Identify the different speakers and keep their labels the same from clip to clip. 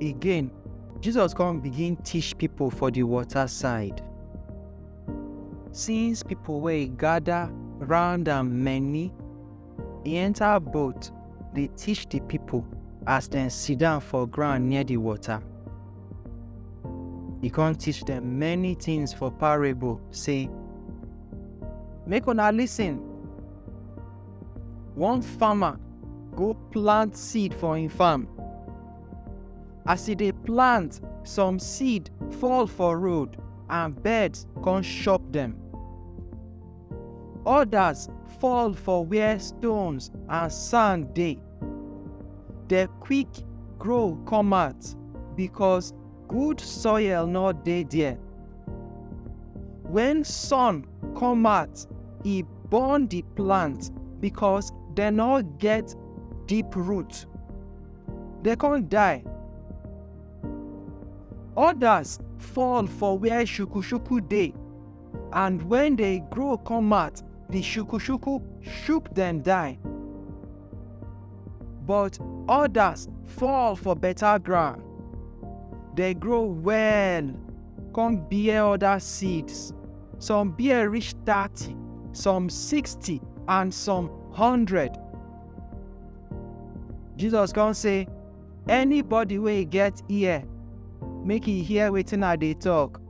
Speaker 1: Again, Jesus come begin teach people for the water side. Since people were gather round and many, he enter boat dey teach the people as dem sit down for ground near the water. He come teach them many things for parable, say, Make una listen. One farmer go plant seed for im farm. As e dey plant, some seed fall for road and birds come chop dem. Others fall for where stones and sand dey. Dem quick grow come out because good soil no dey there. When sun come out, e burn the plant because they no get deep root. They can't die. Others fall for where shukushuku day, and when they grow come out, the shukushuku shook them die. But others fall for better ground. They grow well, come bear other seeds. some bear reach thirty some sixty and some hundred jesus come say anybody wey get ear make e hear wetin i dey talk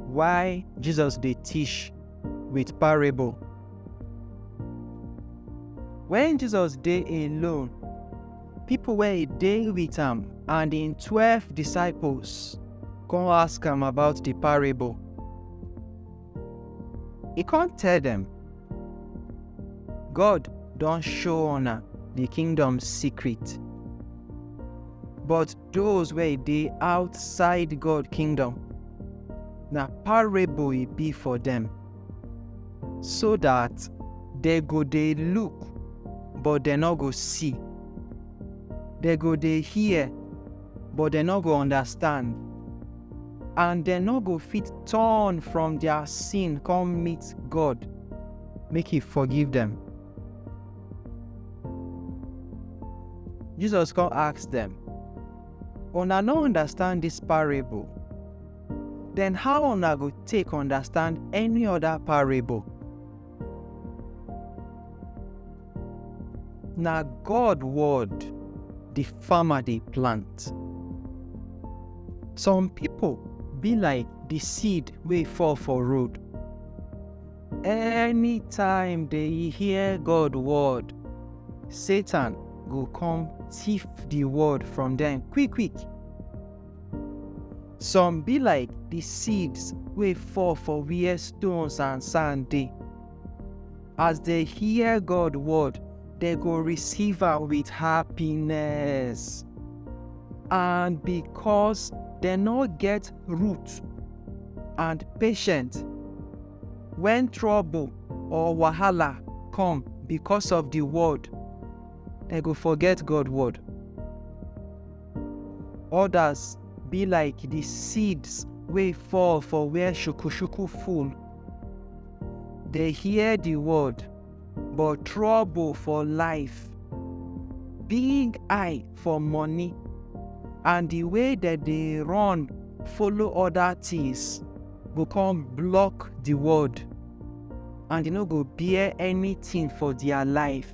Speaker 1: why jesus dey teach with parable when jesus dey alone Pipo wey dey wit am and im twelve disciples kon ask am about di parable. E kon tell dem, God don show una di kingdom secret, but doz wey dey outside God kingdom, na parable e bi for dem. so dat dem go dey look but dem no go see, dem go dey hear but dem no go understand, and dem no go fit turn from dia sin come meet God make e forgive dem. Jesus come ask dem, Una no understand dis parable? den how una go take understand any oda parable? Na God word di farmer dey plant. Some pipo be like di seed wey fall for road. Anytime dey hear God word, Satan go come tiff di word from dem quick-quick. Some be like di seeds wey fall for where stones and sand dey. As dem hear God word, dem go receive am with happiness. And because dem no get root and patience, when trouble or wahala come because of di word, dem go forget God word. Odas be like di seeds wey fall for where shuku-shuku full. Dem hear di word, but trouble for life, big eye for money, and di way dem dey run follow oda tins go come block di word, and e no go bear anytin for dia life.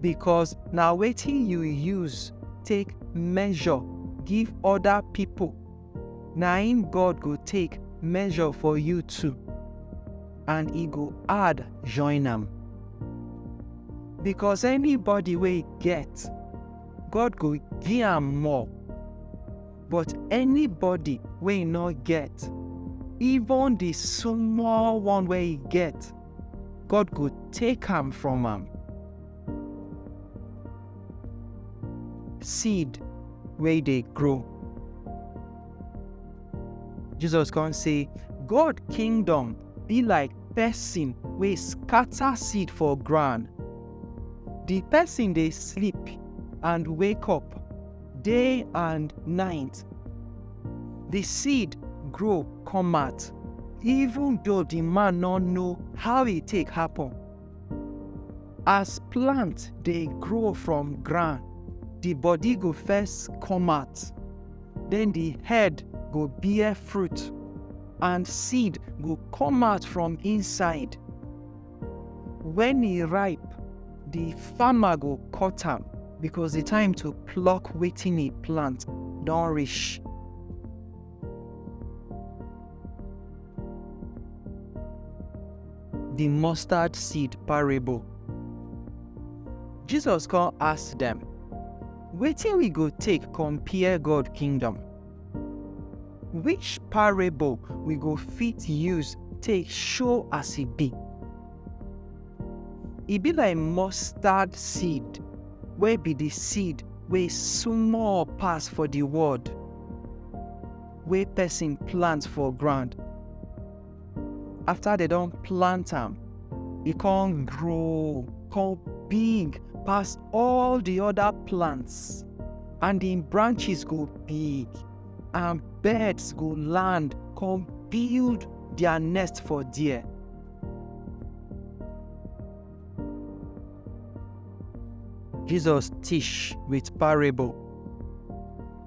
Speaker 1: because na wetin you use take measure give other people na im God go take measure for you too and e go add join am. Because anybody wey get, God go give am more. But anybody wey no get, even the small one wey e get, God go take am from am. Seed wey dey grow. Jesus come say, God kingdom be like person wey scatter seed for ground. The person dey sleep and wake up. day and night. The seed grow come out even though the man no know how e take happen. As plant dey grow from ground, the body go first come out, then the head go bear fruit and seed go come out from inside. When e ripe, the farmer go cut am because the time to pluck wetin e plant don reach. The mustard seed parable. Jesus come ask dem, Wetin we go take compare God kingdom? Which parable we go fit use take show as e be? E be like mustard seed wey be the seed wey small pass for the world wey person plant for ground after they don't plant them, it e can grow come big pass all the other plants and the branches go big and birds go land come build their nest for there. Jesus teach with parable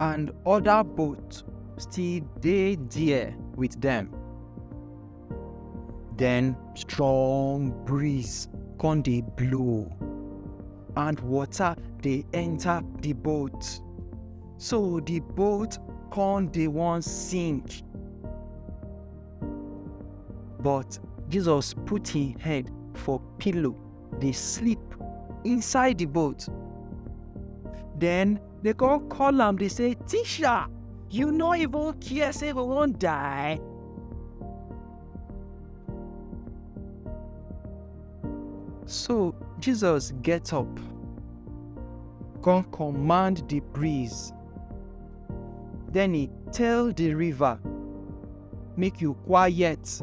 Speaker 1: and other boat still dey there with them. Then strong breeze come dey blow and water dey enter the boat. So the boat come dey wan sink. But Jesus put him head for pillow dey sleep inside the boat. Then they come call am dey say, Teacher, you no even care say we wan die? So Jesus get up, come command the breeze. Then he tell the river, make you quiet.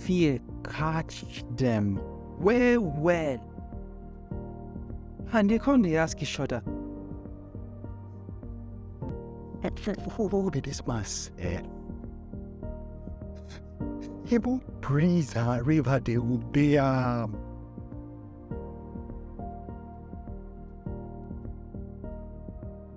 Speaker 1: Fear catch them well well and they come dey ask each other who be this man sef even breeze and river dey obey am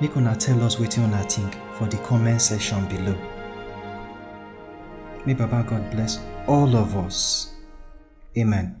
Speaker 1: Make una tell us wetin una think for the comment section below. May Baba God bless all of us. Amen.